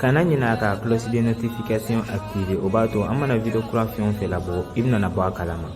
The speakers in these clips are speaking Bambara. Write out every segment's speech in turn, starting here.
kana ɲinɛ ka cloche de notification activer o b'a to an mana video kura fɛn o fɛn labɔ i bɛna bɔ a kalama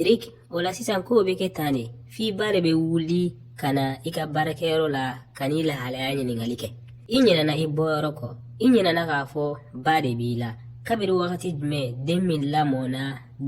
rik o la sisan kow bɛ kɛ tan de f'i ba de bɛ wuli ka na i ka baarakɛyɔrɔ la ka n'i lahalaya ɲininkali kɛ i ɲinɛna i bɔyɔrɔ kɔ i ɲinɛna k'a fɔ ba de b'i la kabiri wagati jumɛn den min lamɔna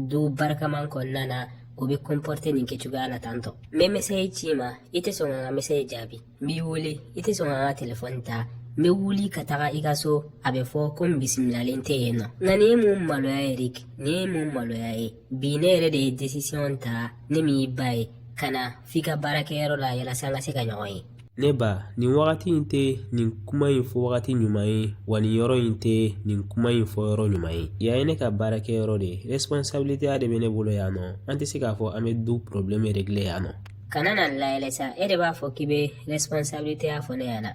du barikaman kɔnɔna na o bɛ kɔnpɔrite nin kɛcogoya la tantɔ n bɛ mesɛyi c'i ma i tɛ sɔn ka n ka mesɛyi jaabi n b'i wele i tɛ sɔn ka n ka telefɔni ta n bɛ wuli ka taga i ka so a bɛ fɔ ko n bisimilalen tɛ yen nɔ nka nin ye mun maloya ye rik nin ye mun maloya ye bi ne yɛrɛ de ye desisiyɔn ta ne min y'i ba ye ka na f'i ka baarakɛyɔrɔ la yalasa an ka se ka ɲɔgɔn ye ne ba nin wagati in tɛ nin kuma in fɔ wagati ɲuman ye wa nin yɔrɔ in tɛ nin kuma in fɔ yɔrɔ ɲuman ye yan ye ne ka baarakɛyɔrɔ de ye responsabilité de bɛ ne bolo yan nɔ an tɛ se k'a fɔ an bɛ du problème régler yan nɔ kana n layɛlɛ sa e de b'a fɔ k'i bɛ responsabilitéya fɔ ne ɲɛna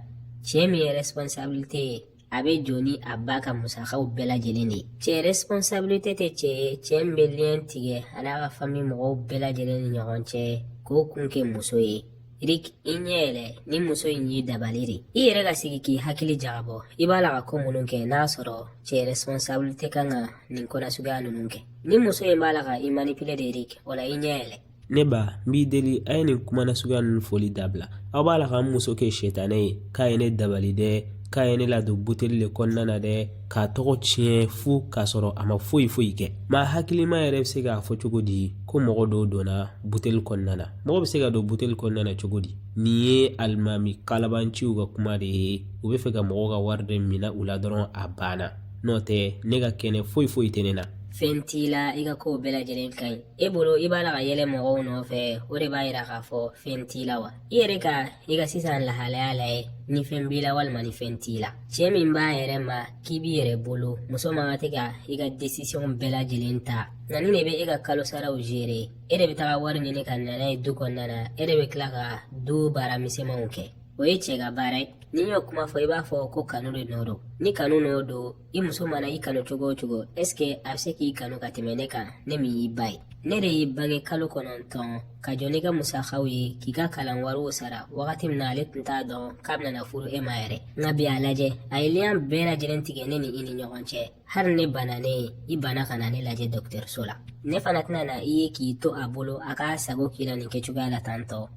cɛ min ye responsabilité ye a bɛ jɔ ni a ba ka musakaw bɛɛ lajɛlen de ye cɛ responsabilité tɛ cɛ ye cɛ min bɛ liyɛn tigɛ a n'a ka famille mɔgɔw bɛɛ lajɛlen ni ɲɔgɔn cɛ k'o kun kɛ muso ye rik i ɲɛ yɛlɛ nin muso in y'i dabali de i yɛrɛ ka sigi k'i hakili jagabɔ i b'a la ka ko minnu kɛ n'a sɔrɔ cɛ responsabilité kan ka nin ko nasuguya ninnu kɛ nin muso in b'a la ka i manipule de rik o la i ɲɛ yɛlɛ Ne ba n b'i deli a ye nin kuma nasuguya ninnu foli dabila aw b'a la ka n muso kɛ sɛtanɛ ye k'a ye ne dabali dɛ k'a ye ne ladon buteli de kɔnɔna na dɛ k'a tɔgɔ tiɲɛ fu k'a sɔrɔ a ma foyi foyi kɛ maa hakilima yɛrɛ bɛ se k'a fɔ cogo di ko mɔgɔ dɔ donna buteli kɔnɔna na mɔgɔ bɛ se ka don buteli kɔnɔna na cogo di nin ye alimami kalabanciw ka kuma de ye u bɛ fɛ ka mɔgɔw ka wari de minɛ u la dɔrɔn a banna n'o tɛ ne ka kɛnɛ foyi foyi tɛ ne na fɛn t'i la i ka kow bɛɛ lajɛlen ka ɲi e bolo i b'a la ka yɛlɛ mɔgɔw nɔfɛ o de b'a yira k'a fɔ fɛn t'i la wa i yɛrɛ ka i ka sisan lahalaya lajɛ ni fɛn b'i la walima ni fɛn t'i la cɛ min b'a yɛrɛ ma k'i b'i yɛrɛ bolo muso man kan tɛ ka i ka desisiyɔn bɛɛ lajɛlen ta nka nin de bɛ e ka kalosaraw zere e de bɛ taga wari ɲini ka na n'a ye du kɔnɔna na e de bɛ tila ka du baara misɛnmanw kɛ o ye cɛ ka baara ye n'i y'o kuma fɔ i b'a fɔ ko kanu de nɔ don ni kanu nɔ don i muso mana i kanu cogo o cogo ɛske a bɛ se k'i kanu ka tɛmɛ ne kan ne min y'i ba ye ne de y'i bange kalo kɔnɔntɔn ka jɔ n'i ka musakaw ye k'i ka kalan wariw sara wagati min na ale tun t'a dɔn k'a bɛna furu e ma yɛrɛ nka bi a lajɛ a ye liyan bɛɛ lajɛlen tigɛ ne ni i ni ɲɔgɔn cɛ hali ne bananen ye i banna ka na ne lajɛ dɔgɔtɔrɔso la ne fana tɛna na i ye k'i to a bolo a k'a sago k'i la nin kɛcogoya la tantɔ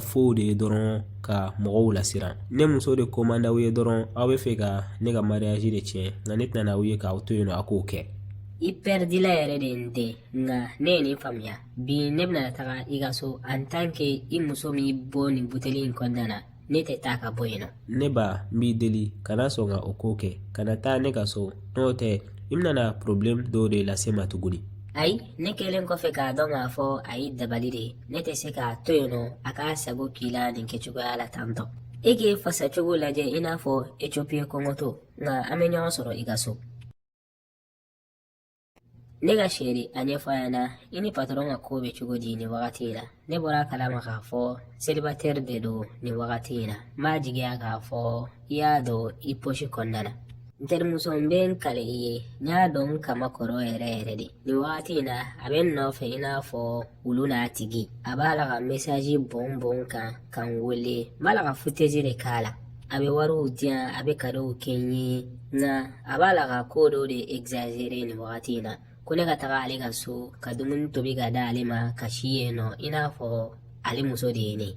faux de ye dɔrɔn ka mɔgɔw lasiran ne muso de ko man d'aw ye dɔrɔn aw bɛ fɛ ka ne ka mariage de tiɲɛ nka ne tɛna na aw ye k'aw to yen nɔ a k'o kɛ i pɛridila yɛrɛ de ye n den nka ne ye nin faamuya bi ne bɛna taga i ka so en tant que i muso m'i bɔ nin buteli in kɔnɔna na ne tɛ taa ka bɔ yen nɔ ne ba n b'i deli kana sɔn ka o ko kɛ kana taa ne ka so n'o tɛ i bɛna porobilɛmu dɔw de lase n ma tuguni ayi ne kɛlen kɔfɛ k'a dɔn k'a fɔ a ye dabali de ye ne tɛ se k'a to yen nɔ a k'a sago k'i la nin kɛcogoya la tantɔ e k'e fasacogo lajɛ i n'a fɔ ethiopie kɔngɔtɔ nka an bɛ ɲɔgɔn sɔrɔ i ka so ne ka chérie a ɲɛfɔ a ɲɛna i ni patɔrɔn ka ko bɛ cogo di nin wagati in na ne bɔra a kalama k'a fɔ selibatɛri de don nin wagati in na n b'a jigiya k'a fɔ i y'a don i posi kɔnɔna na n terimuso n bɛ n kale i ye n y'a don n kaman kɔrɔ yɛrɛ yɛrɛ de nin wagati in na a bɛ n nɔfɛ i n'a fɔ wulu n'a tigi a b'a la ka mesaji bon bon n kan ka n wele n b'a la ka futezi de k'a la a bɛ wariw di yan a bɛ kadow kɛ n ye nka a b'a la ka ko dɔw de egzazere nin wagati in na ko ne ka taga ale ka so ka dumuni tobi k'a d'ale ma ka si yen nɔ i n'a fɔ ale muso de ye ne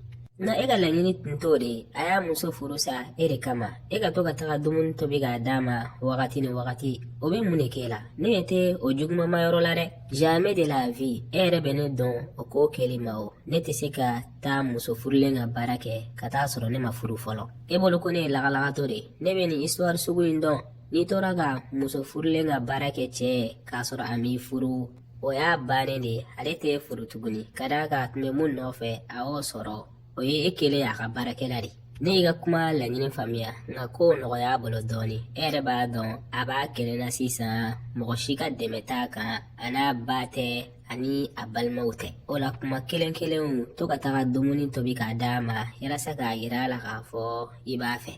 nka e ka laɲini tun t'o de ye a y'a muso furu sa e de kama e ka to ka taga dumuni tobi k'a d'a ma wagati ni wagati o bɛ mun de k'e la ne ɲɛ tɛ o juguman ma yɔrɔ la dɛ Jamais de la vie e yɛrɛ bɛ ne dɔn o ko kɛli ma o ne tɛ se ka taa muso furulen ka baara kɛ ka t'a sɔrɔ ne ma furu fɔlɔ e bolo ko ne ye lagalagatɔ de ye ne bɛ nin histoire sugu in dɔn n'i tora ka muso furulen ka baara kɛ cɛ ye k'a sɔrɔ a m'i furu o y'a bannen de ye ale t'e furu tuguni ka d'a kan a tun bɛ mun nɔfɛ a y'o sɔrɔ o ye e kɛlen y'a ka baarakɛla de ne y'i ka kuma laɲini faamuya nka ko nɔgɔya a bolo dɔɔnin e yɛrɛ b'a dɔn a b'a kelen na sisan mɔgɔ si ka dɛmɛ t'a kan a n'a ba tɛ ani a balimaw tɛ o la kuma kelen kelenw to ka taga dumuni tobi k'a d'a ma yalasa k'a yira a la k'a fɔ i b'a fɛ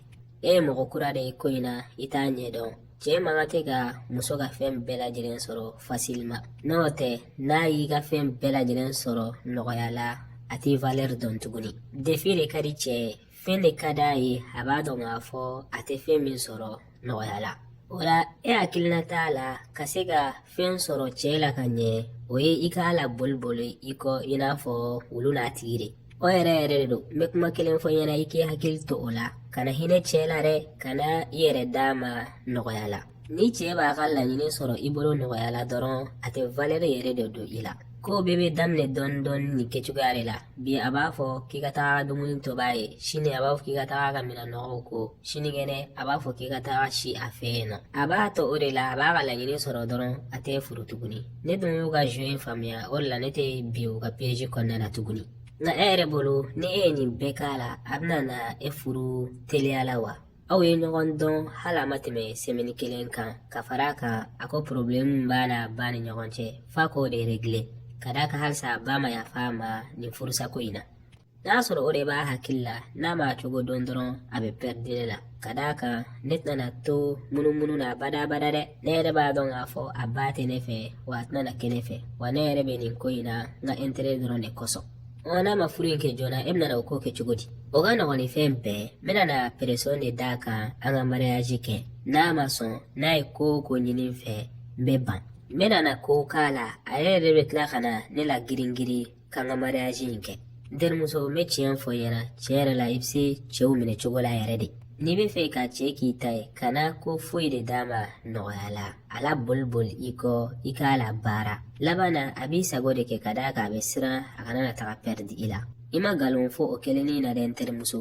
e ye mɔgɔ kura de ye ko in na i t'a ɲɛdɔn Cɛ man kan tɛ ka muso ka fɛn bɛɛ lajɛlen sɔrɔ fasilima n'o tɛ n'a y'i ka fɛn bɛɛ lajɛlen sɔrɔ nɔgɔya la a t'e valɛri dɔn tuguni defi de ka di cɛ ye fɛn de ka d'a ye a b'a dɔn k'a fɔ a tɛ fɛn min sɔrɔ nɔgɔya la o la e hakilina t'a la ka se ka fɛn sɔrɔ cɛ la ka ɲɛ o ye i k'a laboli boli i kɔ i n'a fɔ wulu n'a tigi de o yɛrɛ yɛrɛ don n bɛ kuma kelen f'i ɲɛna i k'i hakili to o la kana hinɛ cɛ la dɛ kana i yɛrɛ d'a ma nɔgɔya la ni cɛ b'a ka laɲini sɔrɔ i bolo nɔgɔya la dɔrɔn a tɛ valɛri yɛrɛ de don i la ko bɛɛ bɛ daminɛ dɔɔni dɔɔni nin kɛcogoya de la bi a b'a fɔ k'i ka taa dumuni tob'a ye sini a b'a fɔ k'i ka taa a ka minɛn nɔgɔw ko sinikɛnɛ a b'a fɔ k'i ka taa si a fɛ yen nɔ a b'a to o de la a b'a ka laɲini sɔrɔ dɔrɔn a t'e furu tuguni ne dun y'u ka jeu in faamuya o de la ne tɛ bin u ka piège kɔnɔna na tuguni nka e yɛrɛ bolo ni e ye nin bɛɛ k'a la a bɛna na e furu teliya la wa aw ye ɲɔgɔn dɔn hali a ma tɛmɛ sɛmɛni kelen kan ka fara a kan a ko porobilɛmu b'a n'a ba ni ɲɔgɔn cɛ f'a k'o de regile ka d'a kan halisa a ba ma yafa a ma nin furusako in na n'a sɔrɔ o de b'a hakili la n'a m'a cogo dɔn dɔrɔn a bɛ pɛridi ne la ka d'a kan ne tɛna to munumunu na badabada dɛ ne yɛrɛ b'a dɔn k'a fɔ a ba tɛ ne fɛ wa a tɛna kɛ ne fɛ wa ne yɛrɛ bɛ nin ko in na n ka ɛntere dɔrɔn de kosɔn ɔ n'a ma furu in kɛ joona e bɛna o ko kɛ cogo di o ka nɔgɔn ni fɛn bɛɛ n bɛna na peresɔn de d'a kan an ka mariyaji kɛ n'a ma sɔn n'a ye ko o ko ɲini n fɛ n bɛ ban n bɛna na ko k'a la a yɛrɛ yɛrɛ bɛ tila ka na ne la girin girin k'an ka mariyaji in kɛ n terimuso n bɛ tiɲɛ fɔ i ɲɛna tiɲɛ yɛrɛ la i bɛ se cɛw minɛ cogo la yɛrɛ de n'i b'a fɛ ka cɛ k'i ta ye i kana ko foyi de d'a ma nɔgɔya la a laboliboli i kɔ i k'a labaara laban na a b'i sago de kɛ ka d'a kan a bɛ siran a kana na taga pɛridi i la i ma nkalon fɔ o kelennin na dɛ n terimuso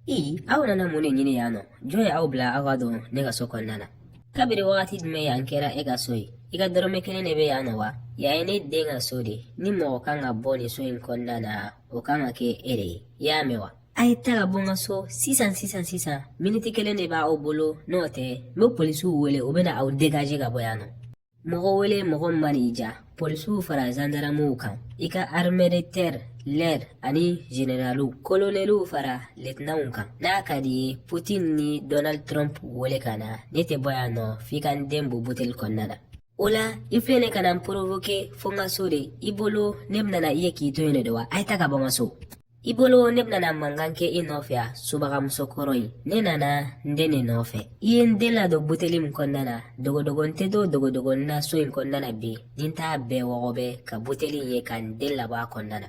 i aw nana mun de ɲini yan nɔ jɔn ye aw bila aw ka don ne ka so kɔnɔna na kabiri wagati jumɛn yan kɛra e ka so ye i ka dɔrɔmɛ kelen de bɛ yan nɔ wa yan ye ne den ka so de ni mɔgɔ kan ka bɔ nin so in kɔnɔna na o kan ka kɛ e de ye i y'a mɛn wa a ye taa ka bɔ n ka so sisan sisan sisan miniti kelen de b'aw bolo n'o tɛ n bɛ polisiw wele u bɛna aw degaje ka bɔ yan nɔ mɔgɔ wele mɔgɔ min man'i diya polisiw fara zandaramuw kan i ka armée de terre l'air ani zeneraliw kolonɛliw fara letinanw kan n'a ka di i ye putin ni donald trump wele ka na ne tɛ bɔ yan nɔ f'i ka n den bɔ buteli kɔnɔna na o la i filɛ nin ka na n porovoke fo n ka so de i bolo ne bɛna na i ye k'i to yen de wa a ye taa ka bɔ n ka so I bolo ne bɛna mankan kɛ i nɔfɛ yan subagamuso kɔrɔ in ne nana n den de nɔfɛ i ye n den ladon buteli min kɔnɔna na dogodogonin tɛ to dogodogonin na so in kɔnɔna na bi ni n t'a bɛɛ wɔgɔbɛ ka buteli in ye ka n den labɔ a kɔnɔna na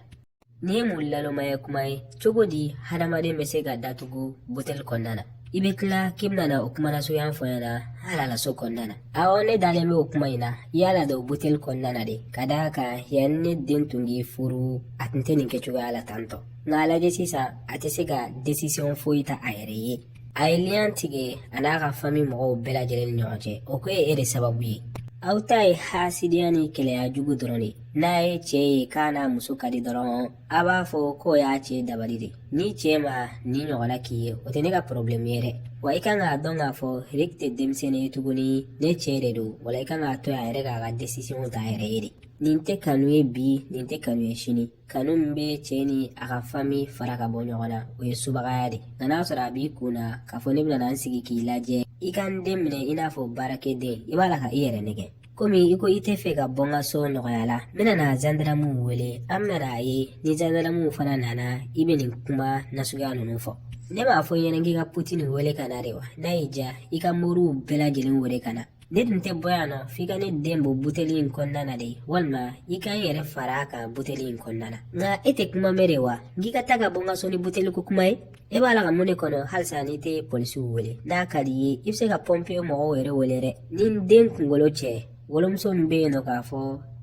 nin ye mun nalonmaya kuma ye cogo di hadamaden bɛ se ka datugu buteli kɔnɔna na i bɛ tila k'i bɛna na o kuma nasuguya fɔ n ɲɛna hali a la so kɔnɔna na awɔ ne dalen bɛ o kuma in na i y'a ladon buteli kɔnɔna na de ka d'a kan yanni ne den tun k'i furu a tun tɛ nin kɛcogoya la tan tɔ nka a lajɛ sisan a tɛ se ka desisiyɔn foyi ta a yɛrɛ ye a ye liyan tigɛ a n'a ka fami mɔgɔw bɛɛ lajɛlen ni ɲɔgɔn cɛ o ko ye e de sababu ye aw ta ye hasidiya ni keleya jugu dɔrɔn de n'a ye cɛ ye k'a n'a muso ka di dɔrɔn a b'a fɔ k'o y'a cɛ dabali de n'i cɛ ma nin ɲɔgɔnna k'i ye o tɛ ne ka porobilɛmu ye dɛ wa i kan k'a dɔn k'a fɔ riki tɛ denmisɛnnin ye tuguni ne cɛ de don o la i kan k'a to a yɛrɛ k'a ka desisiyɔn ta a yɛrɛ ye de nin tɛ kanu ye bi nin tɛ kanu ye sini kanu min bɛ cɛ ni a ka fami fara ka bɔ ɲɔgɔn na o ye subagaya de nka n'a sɔrɔ a b'i kun na k'a fɔ ne bɛna n sigi k'i lajɛ i ka n den minɛ i n'a fɔ baarakɛden i b'a la ka i yɛrɛ nɛgɛn komi i ko i tɛ fɛ ka bɔ n ka so nɔgɔya la n bɛna na zandaramuw wele an bɛna a ye ni zandaramuw fana nana i bɛ nin kuma nasuguya ninnu fɔ ne b'a fɔ i ɲɛna k'i ka putini wele ka na de wa n'a y'i diya i ka moriw bɛɛ lajɛlen wele ka na ne tun tɛ bɔ yan nɔ f'i ka ne den bɔ buteli in kɔnɔna na de walima i ka n yɛrɛ fara a kan buteli in kɔnɔna na nka e tɛ kuma mɛn de wa n k'i ka taa ka bɔ n ka so ni buteli ko kuma ye e b'a la ka mun de kɔnɔ halisa n'i tɛ polisiw wele n'a ka di i ye i bɛ se ka pɔnpiye mɔgɔw yɛrɛ wele dɛ ni den kunko lo cɛ wolomuso min bɛ yen nɔ k'a fɔ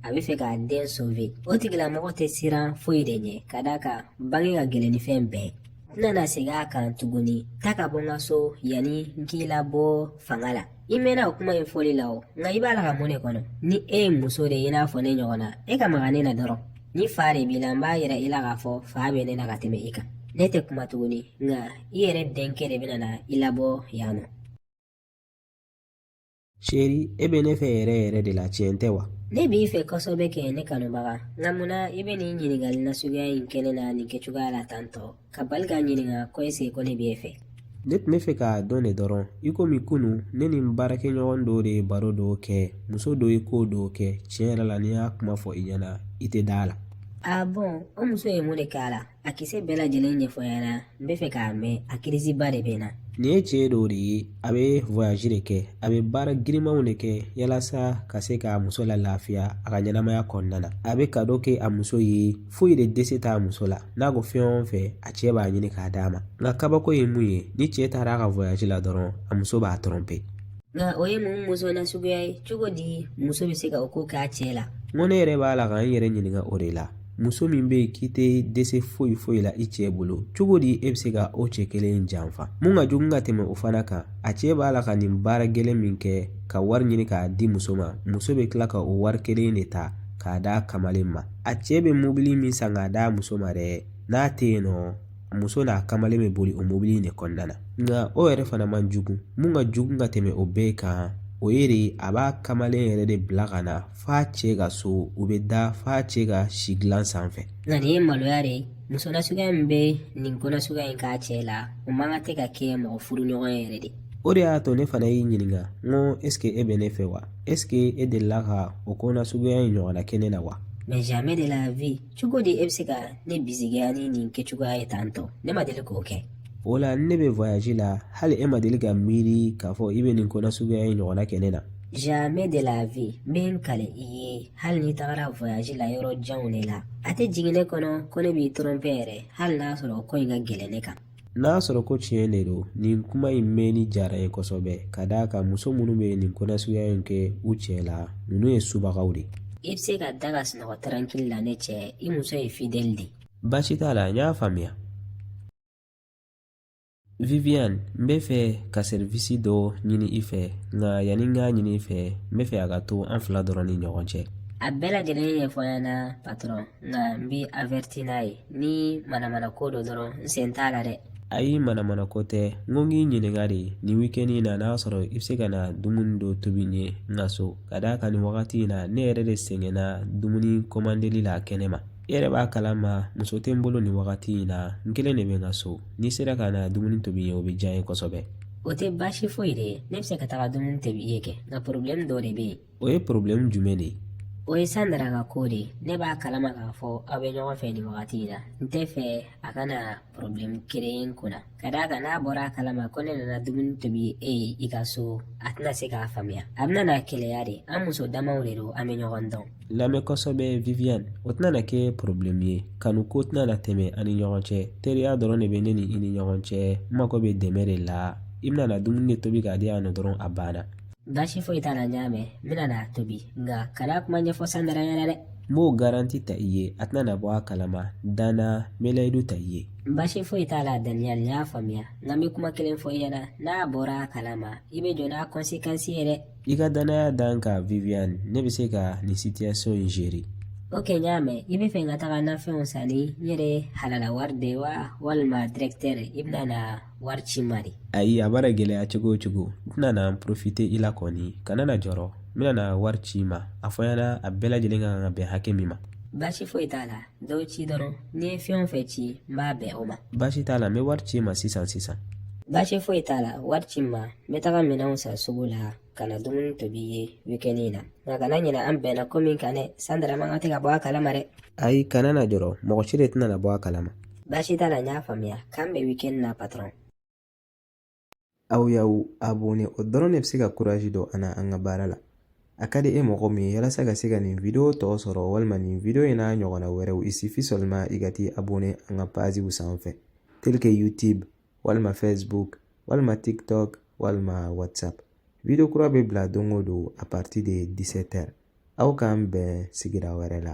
a bɛ fɛ k'a den sove o tigilamɔgɔ tɛ siran foyi de ɲɛ ka d'a kan bange ka gɛlɛn ni fɛn bɛɛ n tɛna na segin a kan tuguni taa ka bɔ n ka so yanni n k'i labɔ fanga la i mɛnna o kuma in fɔli la o nka i b'a la ka mun de kɔnɔ ni e ye muso de ye i n'a fɔ ne ɲɔgɔnna e ka maga ne na dɔrɔn ni fa de b'i la n b'a yira i la k'a fɔ fa bɛ ne na ka tɛmɛ i kan ne tɛ kuma tuguni nka i yɛrɛ denkɛ de bɛna na i labɔ yan nɔ cheri e bɛ ne fɛ yɛrɛ yɛrɛ de la tiɲɛ tɛ wa ne b'i fɛ kosɛbɛ kɛ ne kanubaga nka munna i bɛ nin ɲininkali nasuguya in kɛ ne na nin kɛcogoya la tantɔ ka bali k'a ɲininka ko eseke ko ne bɛ e fɛ ne tun bɛ fɛ k'a dɔn de dɔrɔn i komi kunu ne ni n baarakɛɲɔgɔn dɔ de ye baro dɔ kɛ muso dɔ ye ko dɔ kɛ tiɲɛ yɛrɛ la ni n y'a kuma fɔ i ɲɛna i tɛ da a la a bɔn o muso ye mun de k'a la a kisɛ bɛɛ lajɛlen ɲɛfɔ n ɲɛna n bɛ fɛ k'a mɛn a kirisiba de bɛ n na nin ye cɛ dɔ de ye a bɛ voyage de kɛ a bɛ baara girinmanw de kɛ yalasa ka se k'a muso la lafiya a ka ɲɛnamaya kɔnɔna na a bɛ kado kɛ a muso ye foyi de dɛsɛ t'a muso la n'a ko fɛn o fɛn a cɛ b'a ɲini k'a d'a ma nka kabako ye mun ye ni cɛ taara a ka voyage la dɔrɔn a muso b'a trompe nka o ye mun muso nasuguya ye cogo di muso bɛ se ka o ko k'a cɛ la n ko ne yɛrɛ b'a la ka n yɛrɛ ɲininka o de la muso min bɛ yen k'i tɛ dɛsɛ foyi foyi la i cɛ bolo cogo di e bɛ se ka o cɛ kelen in janfa mun ka jugu ka tɛmɛ o fana kan a cɛ b'a la ka nin baara gɛlɛn min kɛ ka wari ɲini k'a di muso ma muso bɛ tila ka o wari kelen de ta k'a d'a kamalen ma a cɛ bɛ mobili min san k'a d'a muso ma dɛ n'a tɛ yen nɔ muso n'a kamalen bɛ boli o mobili in de kɔnɔna na nka o yɛrɛ fana man jugu mun ka jugu ka tɛmɛ o bɛɛ kan o ye di a b'a kamalen yɛrɛ de bila ka na f'a cɛ ka so u bɛ da f'a cɛ ka si dilan sanfɛ nka nin ye maloya de ye muso nasuguya min bɛ nin ko nasuguya in k'a cɛ la o man kan tɛ ka kɛ mɔgɔ furuɲɔgɔn ye yɛrɛ de o de y'a to ne fana y'i ɲininka n ko eseke e bɛ ne fɛ wa eseke e delila ka o ko nasuguya in ɲɔgɔnna kɛ ne na wa jamais de la vie cogo di e bɛ se ka ne bisigiya ni nin kɛcogoya ye tan tɔ ne ma deli k'o kɛ o la ne bɛ voyage la hali e ma deli ka miiri k'a fɔ i bɛ nin ko nasuguya in ɲɔgɔnna kɛ ne na jamais de la vie n bɛ n kale i ye hali n'i tagara voyage la yɔrɔ janw de la a tɛ jigin ne kɔnɔ ko ne b'i trompe yɛrɛ hali n'a sɔrɔ ko in ka gɛlɛn ne kan N'a sɔrɔ ko tiɲɛ de don nin kuma in mɛnni diyara n ye kosɛbɛ ka d'a kan muso minnu bɛ nin kɔnɔnasuguya in kɛ u cɛ la ninnu ye subagaw de i bɛ se ka da ka sunɔgɔ tarankili la ne cɛ i muso ye fidɛli de baasi t'a la n y'a faamuya viviane n bɛ fɛ ka serivisi dɔ ɲini i fɛ nka yanni n k'a ɲini i fɛ n bɛ fɛ a ka to an fila dɔrɔn ni ɲɔgɔn cɛ a bɛɛ lajɛlen ɲɛfɔ n ɲɛna patɔrɔn nka n b'i avɛriti n'a ye ni manamana ko don dɔrɔn n sen t'a la dɛ ayi manamana ko tɛ n ko n k'i ɲininka de nin wikɛni in na n'a sɔrɔ i bɛ se ka na dumuni dɔ tobi n ye n ka so ka d'a kan nin wagati in na ne yɛrɛ de sɛgɛnna dumuni kɔmandeli la kɛnɛ ma i yɛrɛ b'a kalama muso tɛ n bolo nin wagati in na n kelen de bɛ n ka so n'i sera ka na dumuni tobi n ye o bɛ diya n ye kosɛbɛ o tɛ baasi foyi de ye ne bɛ se ka taga dumuni tobi i ye kɛ nka porobilɛmu dɔ de bɛ yen o ye porobilɛmu jumɛn de ye o ye sandara ka ko de ye ne b'a kalama k'a fɔ aw bɛ ɲɔgɔn fɛ nin wagati in na n tɛ fɛ a kana porobilɛmu kereye n kunna ka d'a kan n'a bɔra a kalama ko ne nana dumuni tobi e ye i ka so a tɛna se k'a faamuya a bɛna na keleya de an muso damaw de don an bɛ ɲɔgɔn dɔn lamɛn kosɛbɛ viviane o tɛna na kɛ porobilɛmu ye kanu ko tɛna na tɛmɛ an ni ɲɔgɔn cɛ teriya dɔrɔn de bɛ ne ni i ni ɲɔgɔn cɛ n mago bɛ dɛmɛ de la i bɛna na dumuni de tobi k'a diya o dɔrɔn a banna Baasi foyi t'a la n y'a mɛn n bɛna n'a tobi nka kana kuma ɲɛfɔ sandara ɲɛna dɛ n b'o garanti ta i ye a tɛna na bɔ a kalama da n na n bɛ layidu ta i ye baasi foyi t'a la daniel n y'a faamuya nka n bɛ kuma kelen fɔ i ɲɛna n'a bɔra a kalama i bɛ jɔ n'a kɔnsekansi ye dɛ i ka dannaya da n kan viviane ne bɛ se ka nin sitiyasɔn in zere ok n y'a mɛn i bɛ fɛ n ka taga nafɛnw san ni n yɛrɛ halala wari de wa walima dirɛkitɛri i bɛna na wari ci n ma de ayi a mana gɛlɛya cogo o cogo n tɛna na n porofite i la kɔni kana na jɔrɔ n bɛna wari ci i ma a fɔ n ɲɛna a bɛɛ lajɛlen ka kan ka bɛn hakɛ min ma baasi foyi t'a la dɔ ci dɔrɔn n'i ye fɛn o fɛn ci n b'a bɛn o ma baasi t'a la n bɛ wari ci i ma sisan sisan baasi foyi t'a la wari ci n ma n bɛ taga minɛnw san sugu la ka na dumuni tobi i ye wikɛni na nka kana ɲinɛ an bɛnna ko min kan dɛ sandara man kan de ka bɔ a kalama dɛ ayi kana na jɔrɔ mɔgɔ si de tɛna na bɔ a kalama baasi t'a la n y'a faamuya k'an bɛn wikɛni na patɔrɔn aw y'aw abone o dɔrɔn de bɛ se ka kurazi don an na an ka baara la a ka di e mɔgɔ min ye yalasa ka se ka nin video tɔ sɔrɔ walima nin video in n'a ɲɔgɔnna wɛrɛw il suffit seulement i ka t'i abone an ka paziw sanfɛ tel que youtube walima facebook walima tiktok walima whatsapp video kura bɛ bila don o don à partir de 17 heures aw k'an bɛn sigira wɛrɛ la